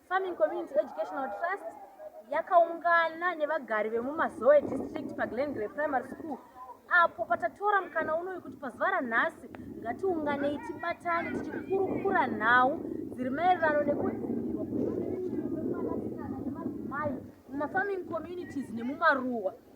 Farming Community Educational Trust yakaungana nevagari vemumazoe district paglengrey primary school apo patatora mukana unoyu kuti pazuva ranhasi ngatiunganei tibatane tichikurukura nhau dziri maererano nekudzivirwa kwemwanasikana nemadzimai mumafarming communities nemumaruwa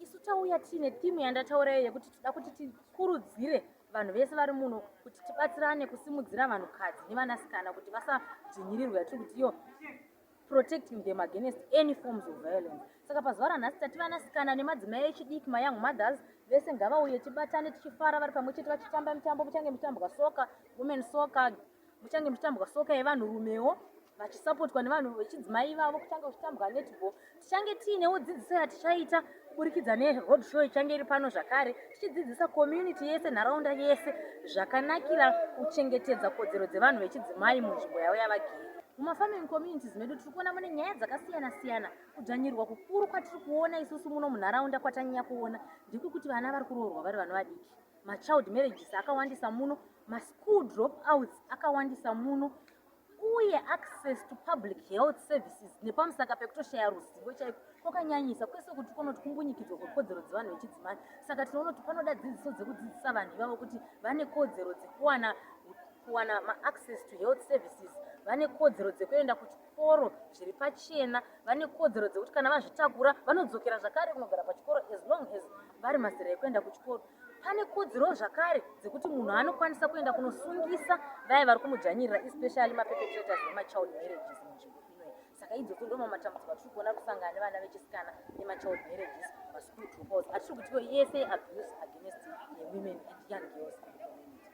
isu tauya tiine timu yandataurayo yekuti tida kuti tikurudzire vanhu vese vari muno kuti tibatsirane kusimudzira vanhukadzi nevanasikana kuti vasadzvinyirirwe yatiri kuti iyo protecting them against any forms of violence saka pazuva ranhasi tati vanasikana nemadzimai echidiki mayoung mothers vese ngavauye tibatane tichifara vari pamwe chete vachitamba mitambo muchange muchitambwa soka women soka muchange muchitambwa soka yevanhurumewo vachisapotwa nevanhu vechidzimai vavo kuchange kuchitambwa netball tichange tiinewo dzidziso yatichaita kuburikidza neroad show ichange iri pano zvakare tichidzidzisa community yese nharaunda yese zvakanakira kuchengetedza kodzero dzevanhu vechidzimai munzvimbo yavo yavagere mumafarming communities medu tiri kuona mune nyaya dzakasiyana siyana kudzvanyirwa kukuru kwatiri kuona isusu muno munharaunda kwatanyanya kuona ndekuti vana vari kuroorwa vari vana vadiki machild marriages akawandisa muno maschool dropouts akawandisa muno uye access to public health services nepamusaka pekutoshaya ruzivo chaiko kwakanyanyisa kwese kuti kunoti kumbunyikidzwa kwekodzero dzevanhu vechidzimai saka tinoona kuti panoda dzidziso dzekudzidzisa vanhu ivavo kuti vane kodzero dzekuwana kuwana maaccess to health services vane kodzero dzekuenda kuchikoro chikoro zviri pachena vane kodzero dzekuti kana vazvitakura vanodzokera zvakare kunogara pachikoro as long as vari mazera ekuenda kuchikoro pane kodzero zvakare dzekuti munhu anokwanisa kuenda kunosungisa vaye vari kumudzvanyirira especially maperpetrators emachild marriages munzvimbo inoyi saka idzodzo ndo mamatambudziko atiri kuona kusangana nevana vechisikana nemachild marriages maschool dropouts atiri kutiwo yese abuse against women and young girls